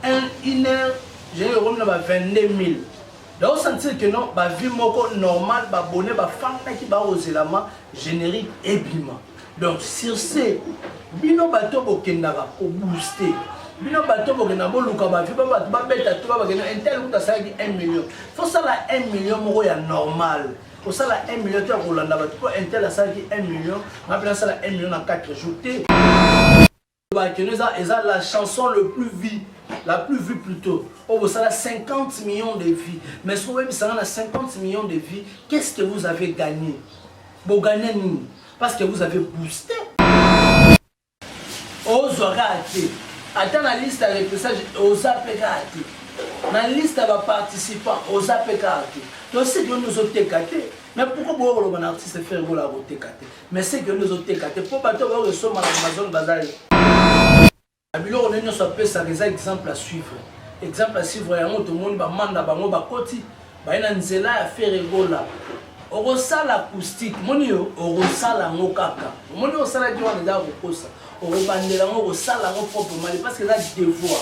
un une heure j'ai eu na ba 22000 donc sentir que non ba vie moko normal ba bonnet ba fanga ki ba ozelama générique ebima donc sur ce bino bato bokendaka ko booster bino bato bokenda boluka bavi ba bato babeta to babakenda intel kuta asalaki 1 million fosala 1 million moko ya normal kosala 1 million to ya kolanda bato mpo intel asalaki 1 million nga mpe nasala 1 million na 4 jour te Ba keno eza eza la chanson le plus vie la plus vue plutôt oyo bosala 50 millions de vues mais soki oyebisanga na 50 millions de vues qu'est ce que vous avez gagné bogagna nini parce que vous avez boosté ozwa kaka te ata na liste ya repressage oza mpe kaka te na liste ya baparticipant oza mpe kaka te tosiki yo nozoteka te mais pourkoi boya koloba na artiste ferre bola koteka te mais ce que nous oteka te po bato ba osoma na Amazon bazali biloko ne nyonso apesaka eza exemple à suivre exemple à suivre yango tomoni bamanda bango bakoti baye na nzela ya feregola okosala acoustique moni yo okosala yango kaka omoni osalaki wana eza kokosa okobandela yango okosala yango propre mali parce que eza devoir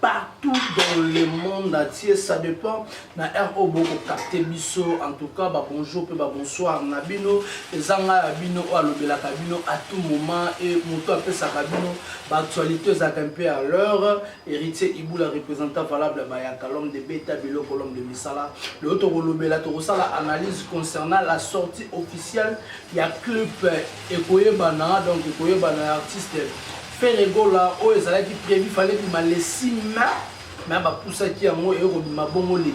partout dans le monde entier ça dépend na heure oyo bokokapte biso en tout cas babonjour mpe babonsoir na bino eza ngai ya bino oyo alobelaka bino à tout moment e moto apesaka bino baactualité ezalaka mpe à l'heure héritier ibula représentant valable ya bayaka l'homme de beta biloko l'homme de misala lelo tokolobela tokosala analyse concernant la sortie officielle ya clip ekoyebana donc ekoyebana ya artiste Ferre Gola oyo ezalaki prevu fallait bima le 6 mai mais bapusaki yango eye kobima bongo le 12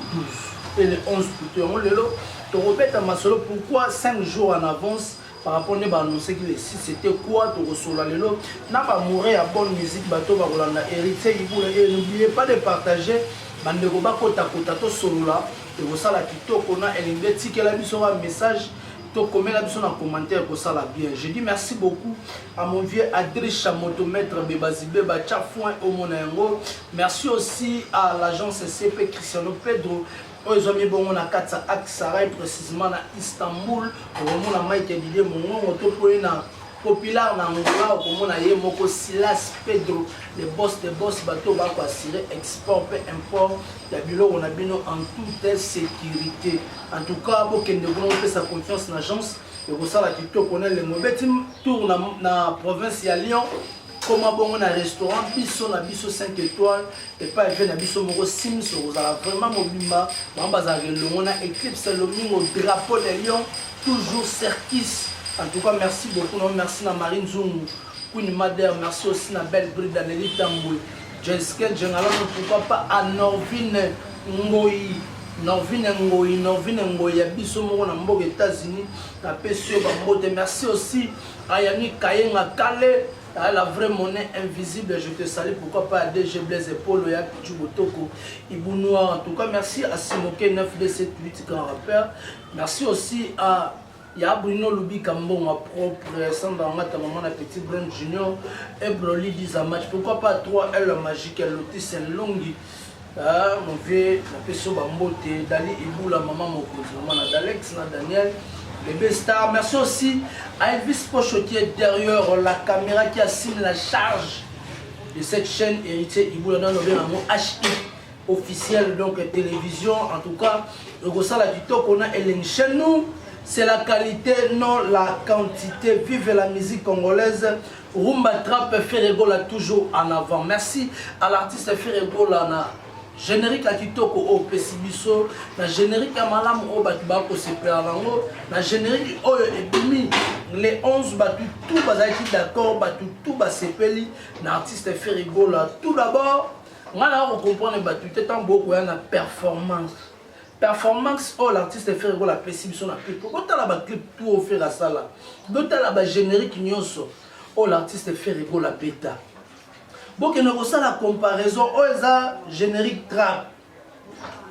mpe le 11 pluto yango lelo tokobeta masolo pourquoi 5 jours en avance par rapport nde baannonsaki le 6 c'était quoi tokosola lelo na bamoure ya bonne musique bato bakolanda héritier ibula e n'oubliez pas de partager bandeko bakotakota tosolola ekosala kitoko na elenge etikela biso ba message to komela biso na commentaire ko sala bien je dis merci beaucoup à mon vieux Adrisha motomètre bebazibe ba cha foin au mona yango merci aussi à l'agence CP Cristiano Pedro oyo ezwami bongo na kati ya Aksaray précisément na Istanbul okomona Mike Didier Mongongo to poye na populaire na Angola okomona ye moko Silas Pedro le boss de boss bato oyo bako assurer export pe import ya biloko na bino en toute sécurité en tout cas bokende kuna bopesa confiance na agence ekosala kitoko na elengo obeti tour na, na province ya Lyon koma bongo na restaurant biso na biso 5 étoile epai ve na biso moko sims okozala vraiment mobimba bango bazalaka elongo na éclipse lomingo drapeau de lion toujours cerkis en tout cas merci beaucoup non merci na marie nzungu queen mader merci aussi na belle bride aneli tambwe jenske jengalano pourquoi pas à norvine ngoyi norvine ngoyi norvine ngoyi ya biso moko na mboka états-unis napesi yo bambote merci aussi Ayami kayenga kale ah, la vraie monnaie invisible je te salue pourquoi pas à DG Blaise Polo ya Pichu Botoko Ibu Noir en tout cas merci à Simoke 9278 grand rappeur merci aussi à ya bruno lubika mbongo propre samba ngata maman na petit brun junior ebroli dizamach pourquoi pas 3 l magique lotise longi Ah, mon vieux, na peso ba mbote, Dali Ibula, maman mokonzi, maman na Dalex, na Daniel, bébé star. Merci aussi à Elvis Pocho qui est derrière la caméra qui assume la charge de cette chaîne héritier Ibula dans le nom HI officiel donc télévision en tout cas le ça la TikTok on a Hélène chez nous c'est la qualité non la quantité vive la musique congolaise Rumba Trap Ferre Gola toujours en avant. Merci à l'artiste Ferre Gola na générique ya kitoko oyo opesi biso na générique ya malamu oyo bato bakosepela nango na générique oyo ebimi le 11 bato tout bazalaki d'accord bato tout basepeli na artiste Ferre Gola tout d'abord ngai naya kocomprendre bato te ntango bokoya na performance performance oyo l'artiste ferre gola apesi biso na clip botala baclip tu oyo ferre asala botala bagénérique nyonso oyo l'artiste ferre gola abeta bokende kosala comparaison oyo eza générique trap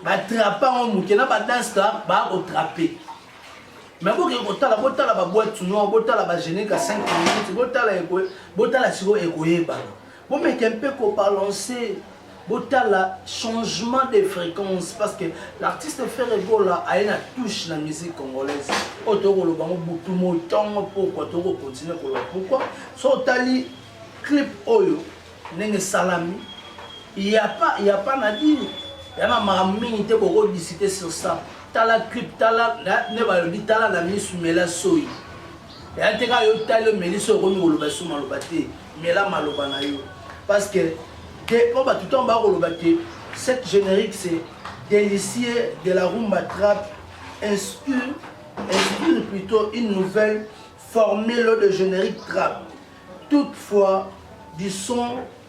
batrapa yango moke na badanse trap baa kotrape me bokende kotala botala baboite noir botala bagénérique ya 5 minutes botala sikoyo ekoyebana Bomeke mpe ko balancer botala changement de fréquence parce que l'artiste Ferre Gola aye na touche na musique congolaise oyo toyei koloba yango butu moi ntongo pourkua toyei kocontinue koloba pourkua so otali clip oyo ndenge esalami yapa yapa na dini ya na makambo mingi te bokodisite sur ça tala clip tala nde balobi tala na misu mela soyi ya te kaka yo tali omeli so okomi koloba esu maloba te mela maloba na yo parce que po bato ntango bakoloba te cette générique c'est délicieux de la rumba trappe inspire inspire plutôt une nouvelle formule de générique trappe toutefois du son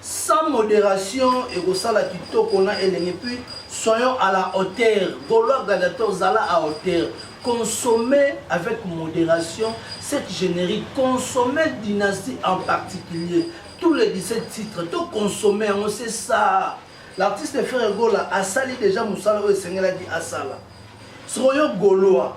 Sans moderation ekosala kitoko na elengi puis soyons à la hauteur golois gladiator zala à hauteur consommer avec moderation cette generique consommer dynastie en particulier tous les 17 titres to consommer yango c'est ça l'artiste frère gola asali déjà mosala oyo esengelaki asala sikoyo golois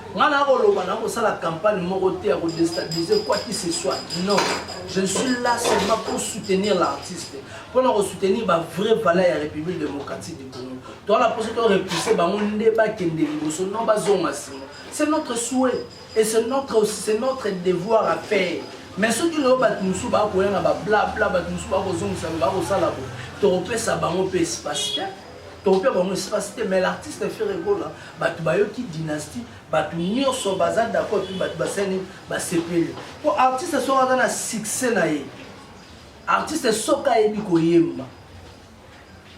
Nga na koloba na kosala campagne moko te ya ko destabiliser quoi qui ce soit. Non, je ne suis là seulement pour soutenir l'artiste. Pour na ko soutenir ba vraies valeurs ya République démocratique du Congo. Toi la poste to repousser bango nde ba kende liboso non ba zonga sima. C'est notre souhait et c'est notre c'est notre devoir à faire. Mais soki lelo bato mosusu bakoya na bablabla bato mosusu bakozongisa bakosala bo tokopesa bango mpe espace te Topia bango esika site mais l'artiste Ferre Gola batu bayoki dynastie batu nyoso baza d'accord puis batu basani basepeli po artiste soka aza na succès na ye artiste soka ayebi koyemba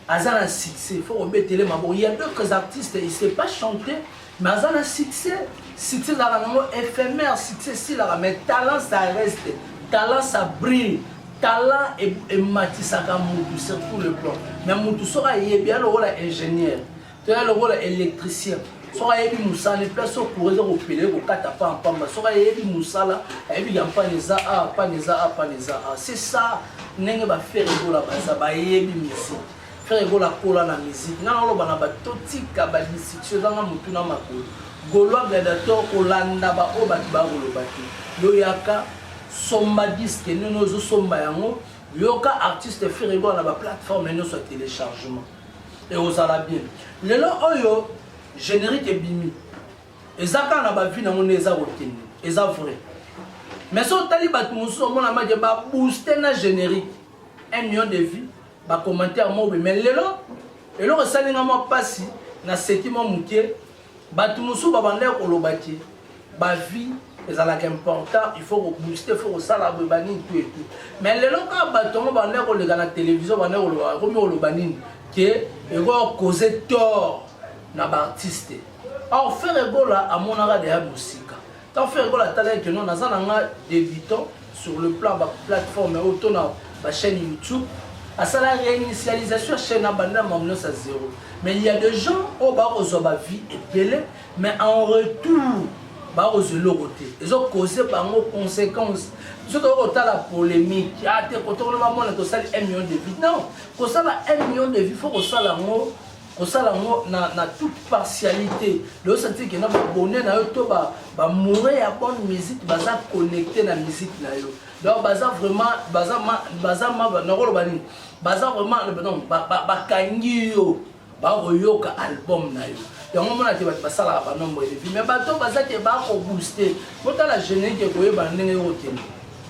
aza na succès faut obetele maboko il y a d'autres artistes il sait pas chanter Naza na succès, succès ezalaka nango ephemer, succès esilaka mais talent ça reste, talent ça brille, talent ematisaka mutu sur tout le plan. Mais mutu soki ayebi ya lokola ingénieur, to ya lokola électricien, soki ayebi mosala place oyo courant eza kopela ekokata pa mpamba soki ayebi mosala ayebi ya mpana eza a mpana eza a mpana eza a c'est ça ndenge bafere kola baza bayebi musique Frère Gola akola na musique. Nga naloba na bato totika ba distraction eza nga motu na makolo. Golois Gladiator kolanda ba oyo bato baya koloba te. Yo yaka somba disque nini ozo somba yango yoka artiste Frère Gola na ba plateforme nyonso ya téléchargement. Et ozala bien. Lelo oyo générique ebimi. Eza kaka na ba vie na ngo nde eza kokende. Eza vrai. Mais so otali bato mosusu omona maje ba booster na générique. 1 million de vues ba commentaire mobe mais lelo eloko esali nga mwa mpasi naseki mwa moke bato mosusu babandaki koloba te bavie ezalaka important il faut kobooste il faut kosala boye banini to etu mais lelo kaka bato yango bandaki koleka na télévision bandaki koloba ekomi koloba nini ke ekoki cause tort na baartiste or fere gola amonaka deya mosika Tant ferre gola tala que non naza na nga débutant sur le plan ba plateforme au to na ba chaîne YouTube asala réinitialisation ya chaîne abanda na mamnos à zéro mais il y a des gens oyo bakozwa ba vie ebele mais en retour bakozwa eloko te ezokose bango conséquence biso tokoki kotala polémique a ah, te kotokolo bamona tosali 1 million de vie non kosala 1 million de vie fo kosala yango kosala yango na, na toute partialité leo sentir kena babone na yo to bamoure ya bonne musique baza connecte na musique na yo donc baza vraiment baza ma, baza ma, nakoloba nini baza vraiment donc bakangi yo bakoyoka album na yo yango mona te bato basalaka banombre elevi mais bato bazaki bakobooste botala générique ekoyeba ndenge yokokende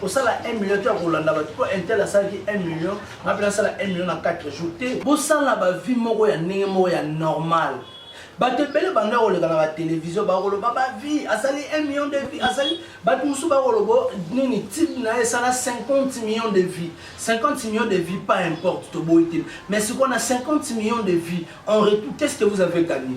kosala 1 million to ya kolanda bato mpo intel asalaki 1 million nga mpe nasala 1 million na 4 jour te bosala bavie moko ya ndenge moko ya normal bato ebele banda koleka na batelevizio bakoloba bavie asali 1 million de vie asali bato mosusu bakoloba oh, nini tipe na ye esala 50 million de vie 50 million de vie pas importe toboyi te mais sikoyo na 50 million de vie en retour qu'est ce que vous avez gagné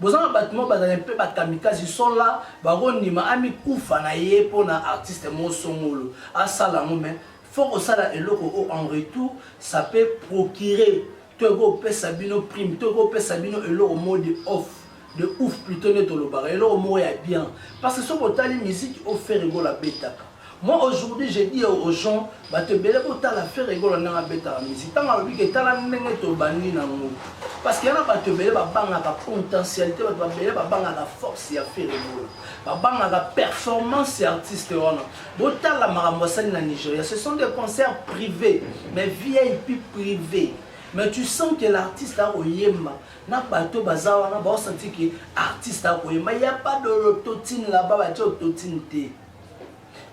Boza na batu moko bazali mpe ba kamikazi sont là bako ndima amikufa na ye mpo na artiste moko songolo asala yango mais faut kosala eloko oyo en retour ça peut procurer to eko pesa bino prime to eko pesa bino eloko moko de off de ouf plutot nde tolobaka eloko moko ya bien parce que soki otali musique oyo Ferre Gola abetaka Moi aujourd'hui je dis aux gens batu ebele botala ferre gola ndenge abetaka musique tango alobi ke tala ndenge tobandi na ngo parce que yana batu ebele babangaka potentialite batu babele babangaka force ya ferre gola babangaka performance ya artiste wana botala makambo asali na nigeria ce sont des concerts privés mais vip privé mais tu sens que l'artiste akoyemba na bato baza wana baosanti ke artiste akoyemba ya pas de l'autotine laba batie autotine te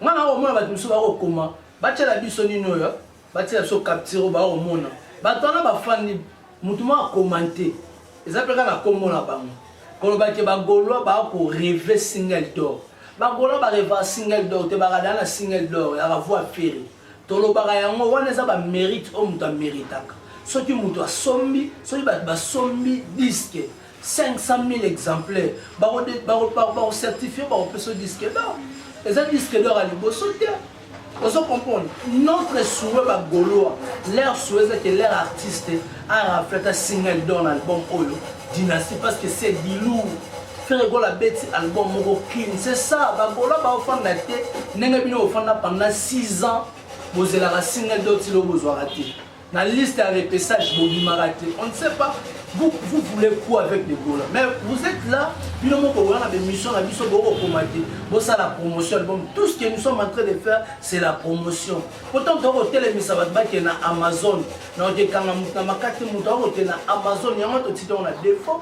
nga na komona bato mosusu bakokoma batyela biso nini oyo batyela biso capture oyo bakomona bato wana bafandi motu moko akomante eza mpe kaka na nkombo na bango koloba ke bagaulois bakoreve single dor bagaulois barevaka single dor te baradana na single dor ya ravoi feri tolobaka yango wana eza bamérite oyo moto ameritaka soki moto asombi soki bato basombi diske 500.000 exemplaires bako bako bako certifier bako peso disque d'or eza disque d'or ya liboso te ozo comprendre notre souhait ba gaulois leur souhait eza ke leur artiste a rafle ata single d'or na album oyo dynastie parce que c'est du lourd frère gola abeti album moko clean c'est ça ba gaulois baofanda te ndenge bino ofanda pendant 6 ans bozelaka single d'or tilo bozwaka te Na liste ya repessage bobimaka te. On ne sait pas vous, vous voulez quoi avec les Gola Mais vous êtes là, bino moko wana ba émission na biso boko komate, bosa la promotion album. Tout ce que nous sommes en train de faire, c'est la promotion. Pourtant to ko telemisa ba baki na Amazon. Na ote kanga mutu na makati mutu ko te na Amazon yango to tito na défaut.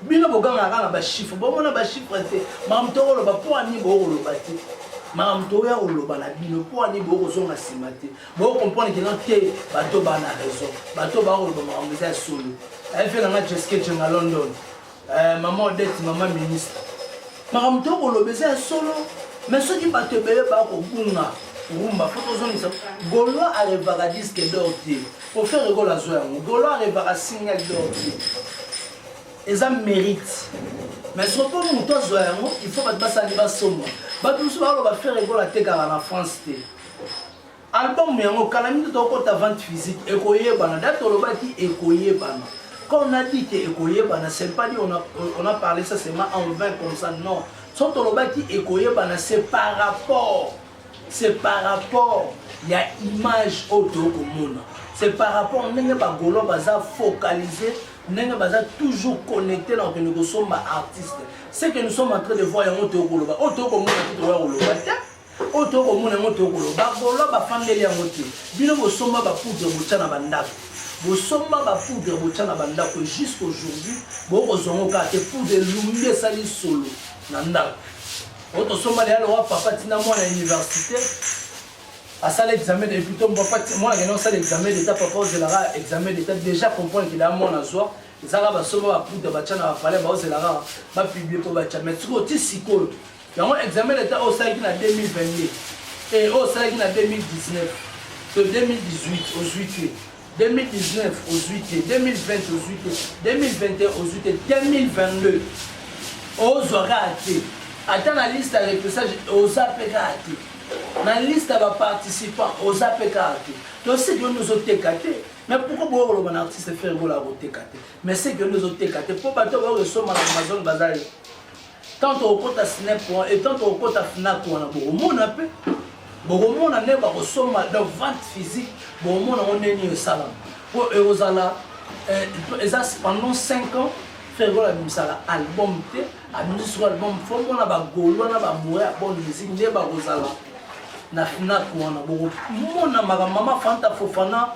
Bino boganga kaka ba chiffres, bomona ba chiffres te. Mam to ko loba po ani bo ko loba te. Mam to ya ko loba na bino po ani bo ko zonga sima te. Bo comprendre que non te bato ba na raison. Bato ba ko ba makambo eza solo. Aye fe na nga Jessica Jenga London. Euh, maman Odette, maman ministre. Makambo to ko lobe eza solo. Mais soki bato ebele ba ko bunga rumba po tozongisa golois arevaka disque d'or te ofere golo azwa yango golois arevaka single d'or te eza mérite mais soki mpo moto azwa yango il faut bato basali basomba bato mosusu baloba fere golo atekaka na france te album yango kala mingi tokota vente physique ekoyebana da tolobaki ekoyebana quand on a dit que ekoyebana c'est pas dit on a, on a parlé ça seulement en vain comme ça non so tolobaki ekoyebana c'est par rapport c'est par rapport ya image oyo toyo komona c'est par rapport ndenge bagolo baza focalise ndenge baza toujours connecté na kokende kosomba artiste ce que nous sommes en train de voir yango toyo koloba oyo toyo komona te tokoya koloba te oyo toyei komona yango toyei koloba bagolois bafandeli yango te bino bosomba bapoudre botya na bandako bosomba bapoudre botya na bandako jusqu'aujourd'hui bokozwa yango kaka te poudre elumbi esali solo na ndako oyo tosomba leya lowa papa ntina mwana ya université asala examen de plutôt papa mwana akenda kosala examen d'état papa ozelaka examen d'état déjà comprendre ke leya mwana azwa ezalaka basomba bapoudre batya na bapalais baozelaka bapiblie mpo batya mai sikoyo ti sikoyo Yango examen d'etat oyo osalaki na 2022 et oyo osalaki na 2019 to 2018 ozwi te 2019 ozwi te 2020 ozwi te 2021 ozwi te 2022 ozwa kaka te ata na liste ya repressage oza mpe kaka te na liste ya baparticipant oza mpe kaka te tosiki yo nde ozoteka te mais pourquoi boyo koloba na artiste ferre bola akoteka te mais seki yo nde ozoteka te mpo bato bayo kosomba na amazon baza ye Tant okota snap wana et tant okota fnac wana bokomona mpe bokomona nde bakosomba donc vente physique bokomona ngo nde nini esalama mpo ekozala eh, eza pendant 5 ans fergol abimisaka album te abimisi soko album fo mona bagolwa na bamoya ya bonne musique nde bakozala na fnac wana bokomona makambo mama fanta fofana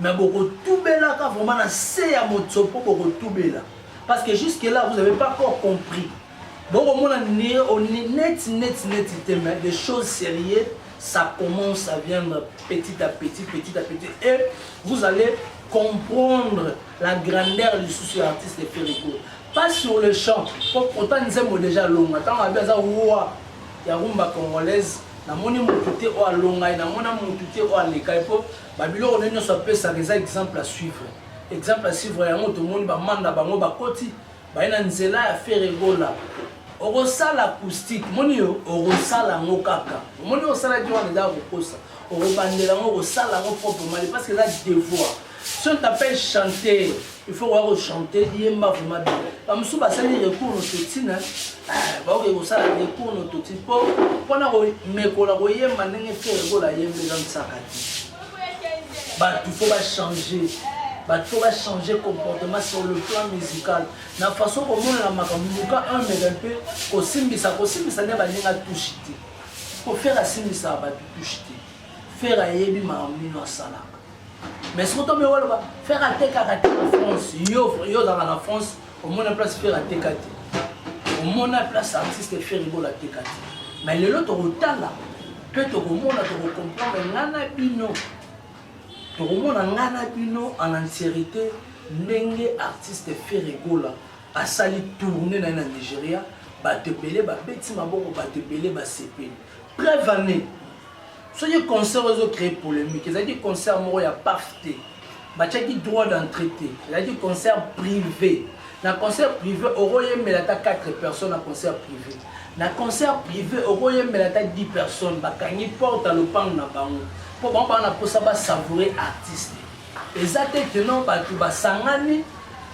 Mais bokotubelaka vraiment na se ya motsopo bokotubela parce que jusque là vous avez pas encore compris bokomona neti neti neti te mais des choses sérieux ça commence à viendre petit à petit petit à petit et vous allez comprendre la grandeur du souci artiste de Ferrigo pas sur le champ pourtant nzembo déjà longa ntango abi aza roi ya rumba congolaise namoni motu te oyo alonga ye namona motu te oyo aleka ye mpo Ba biloko naye nionso apesaka eza exemple à suivre. Exemple à suivre yango tomoni ba manda bango bakoti baye na nzela ya Ferre Gola. Okosala acoustique, moni yo okosala yango kaka. Omoni osalaki wana eza kokosa. Okobandela yango okosala yango proprement parce que eza devoir. Si on t'appelle chanter il faut koya kochante yemba vraimen bien bamosusu basali recours nototine eh, baoke kosala recours nototine mpo mpona komekola koyemba ndenge fere kola yemba eza mosaka te bato fo bachange bato fo bachange comportement sur le plan musical na façon komonana makambo luka un mega mpe kosimbisa kosimbisa nde baninga touche te mpo fere asimbisaka bato touche te fere ayebi makambo nino asalaka mais soki tomi oloba faire atekaka te na france yo yo ozalaka na france omona place faire ateka te omona place artiste faire ebola ateka te mais lelo tokotala mpe tokomona tokokomprendre nga na bino tokomona nga na bino en entiérité ndenge artiste faire egola asali tourne na ye na nigeria bato ebele babeti maboko bato ebele basepeli Preuve en est, soki concert oyo ezo créer polemique, ezalaki concert moko ya paf te, batiaki droit d'entrée te, ezalaki concert privé. Na concert privé, okoyembela ata 4 personnes na concert privé. Na concert privé, okoyembela ata 10 personnes, bakangi porte ya lopango na bango, mpo bango baa na mposa ba savourer artiste. Eza te que non bato basangani,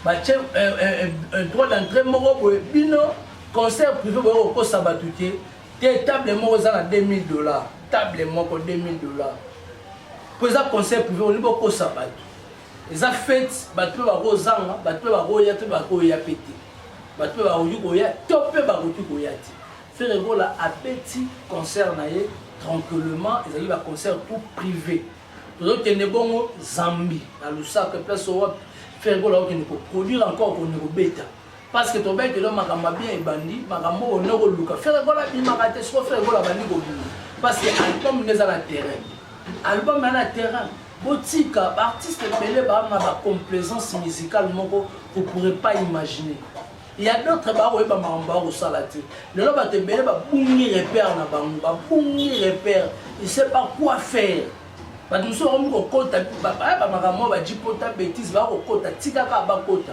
batie un droit d'entrée moko boye, bino concert privé boye kokosa bato te, Te table moko eza na 2000 dollars. Table moko 2000 dollars. Po eza concert privé olingi bokosa bato. Eza fete bato pe bakozanga, bato pe bakoya to bakoya pe te. Bato pe bakoki koya to pe bakoki koya te. Ferre Gola abeti concert na ye tranquillement ezali ba concert tout privé. Tozokende bongo Zambie na Lusaka place oyo Ferre Gola akokende ko produire encore kende kobeta. parce que tobete lo makambo ma bien ebandi makambo oyo noko luka ferre gola abimaka te soko ferre gola abandi kobima parce que album nde eza na terrain album ya na terrain botika baartiste ebele baa na bacomplaisance musicale moko vous pourrez pas imaginer ya d'autre bakoyeba makambo bakosala te lelo bato ebele babungi repère na bango babungi repère il sait pas quoi faire bato mosusu bakomi kokota bamakambo oyo bajipota bétise bakokota tikaka bakota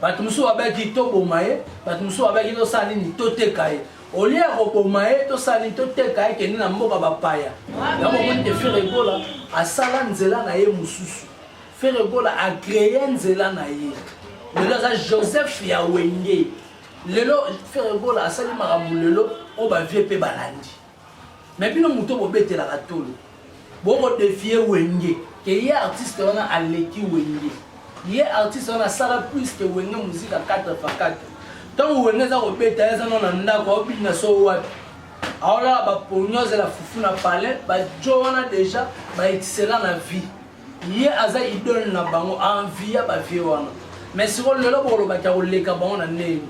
bato mosusu babaki toboma ye bato mosusu babaki tosala nini toteka ye olie ya koboma ye tosala nini toteka ye kende na mboka bapaya yango omoni te fere egola asala nzela na ye mosusu fere egola akreye nzela na ye lelo aza joseph ya wenge lelo fere egola asali makambo lelo oyo bavie mpe balandi Mais bino moto bobetelaka tolo boko defie wenge ke ye artiste wana aleki wenge ye artiste wana asala plus ke wenge muzika 4 fa 4 ntango wenge eza kobeta eza no na ndako aobina so wapi aolala baponi ozela fufu na palais bajo wana deja baetisela na vie ye aza idole na bango envia bavie wana mais siko lelo bokolobaki akoleka bango na ndenge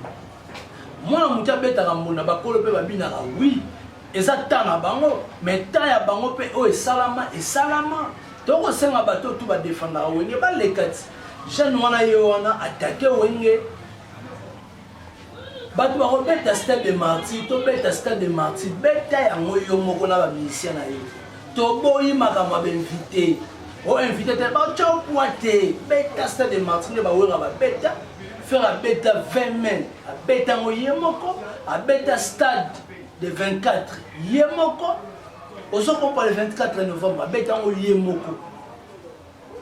mwana moke abetaka mbunda bakolo mpe babinaka wi eza temps na bango mais temps ya bango mpe oyo esalama esalama tokosenga bato oyo tu badefendaka wenge baleka ti jeune wana ye wana atake wenge bato bakobeta stade de martyr tobeta stade de martyr beta yango yo moko na bamusicien na yo Toboyi makambo ya bainvite. O invite te batya pwa te. Beta stade de Martin nde bawera babeta. Ferre abeta 20 mai abeta yango ye moko abeta stade de 24 ye moko ozo kompa le 24 novembre abeta yango ye moko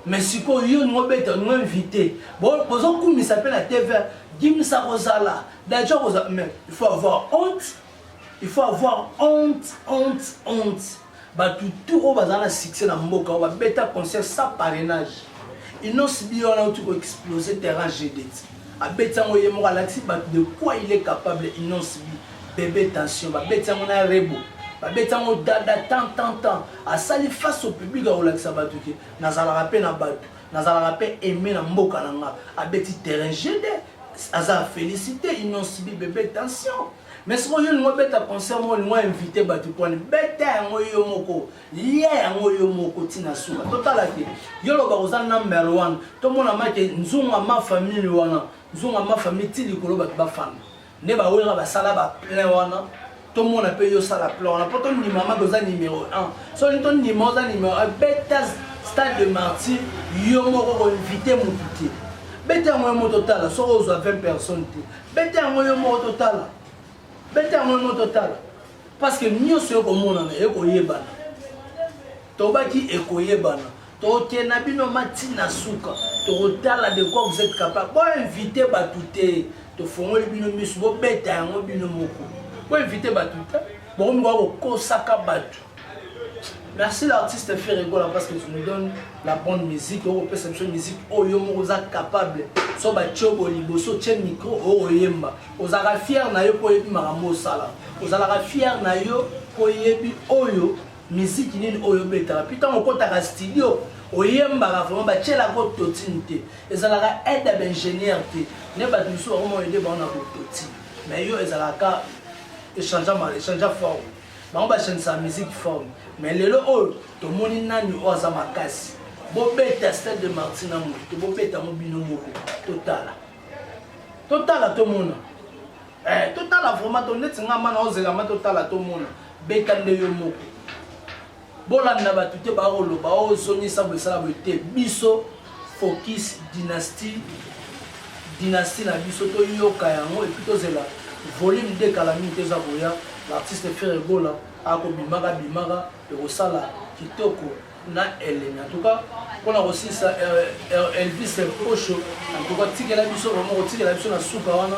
mais sikoyo yo olingi obeta olingi invité bozokumisa mpe na tv dimisa kozala daja kozala mais il faut avoir honte Il faut avoir honte, honte, honte. Batu tout oyo bazala na succès na mboka oyo babeta concert sans parrainage. Innos bio wana auti ko exploser terrain GDT. Abeti yango ye moko alakisi batu de quoi il est capable Innos bi bebe tension babeti yango na rebo. Babeti yango dada tant tant tant asali face au public akolakisa batu ke nazalaka pe na batu nazalaka pe aime na mboka na nga abeti terrain GD. aza felicite inosibi bebe tension mais soki oyo olingo obeta concert moko olingo invite bato mponi beta yango yo moko lia yango yo moko ntina suka totala te yo loba oza number one tomona make nzunga ma famille wana nzunga ma famille ti likolo bato bafanda nde bawera basala baplein wana tomona mpe yo sala plan wana mpo tondima maka oza numero 1 soki tondima oza numero 1 beta stade de martyr yo moko koinvite motu te beta yango yo moko totala soki ozwa 20 personne te beta yango yo moko totala beta yango yo moko totala parce que nyonso ekomonana ekoyebana tobaki ekoyebana toke na bino mati na suka tokotala de quoi vous êtes capable boinvite bato te tofongoli bino miso bobeta yango bino moko boinvite bato te bokomikoka kokosaka bato merci l'artiste ferregola parce que tu nous donne la bonne musique okopesa biso musique oyo moko oza capable so batye obo liboso tye micro okoyemba ozalaka fiere na yo mpo oyebi makambo osala ozalaka fiere na yo mpo oyebi oyo Miziki nini oyo obetaka mpe ntango okotaka studio oyembaka vraiment batyelaka ototine te ezalaka aide ya baingénieur te nde bato mosusu bakoma aide bango na kototine mais yo ezalaka echangea forme bango bachangisaka musique forme mais lelo oyo tomoni nani oyo aza makasi bobeta stade de marti na moto te bobeta yango bino moko totala totala tomona Eh, totala vraiment to neti nga mana ozela ma totala tomona beta nde yo moko bolanda bato te baoloba ozongisa oh, bosala boye te biso focus dynastie dynastie na biso toyoka yango epuis tozela volume de kala mingi toza koya l'artiste ferre gola akobimaka bimaka ekosala kitoko na elemi en tout cas pona kosilisa elvis mposho en tout cas tikela biso vraiment kotikela biso na suka wana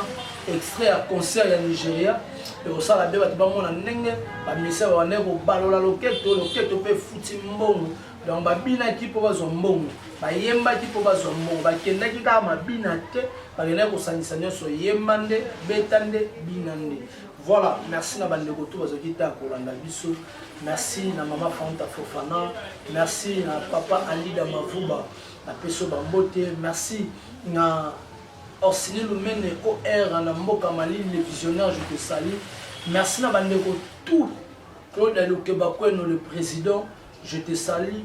extrait ya concert ya nigeria ekosala be bato bamona ndenge bamisia babandaki kobalola loketo loketo mpe efuti mbongo donc babinaki mpo bazwa mbongo bayembaki mpo bazwa mbongo bakendaki kaka mabina te bakendaki kosangisa nyonso yemba nde beta nde bina nde voilà merci na bandeko to bazalaki ta kolanda biso Merci na mama Fanta Fofana, merci na papa Alida Mavuba, na peso bambote, merci na Orsini Lumene OR na mboka Mali, le visionnaire, je te salue. Merci na bandeko tout Claude Aluke Bakweno, le président, je te salue.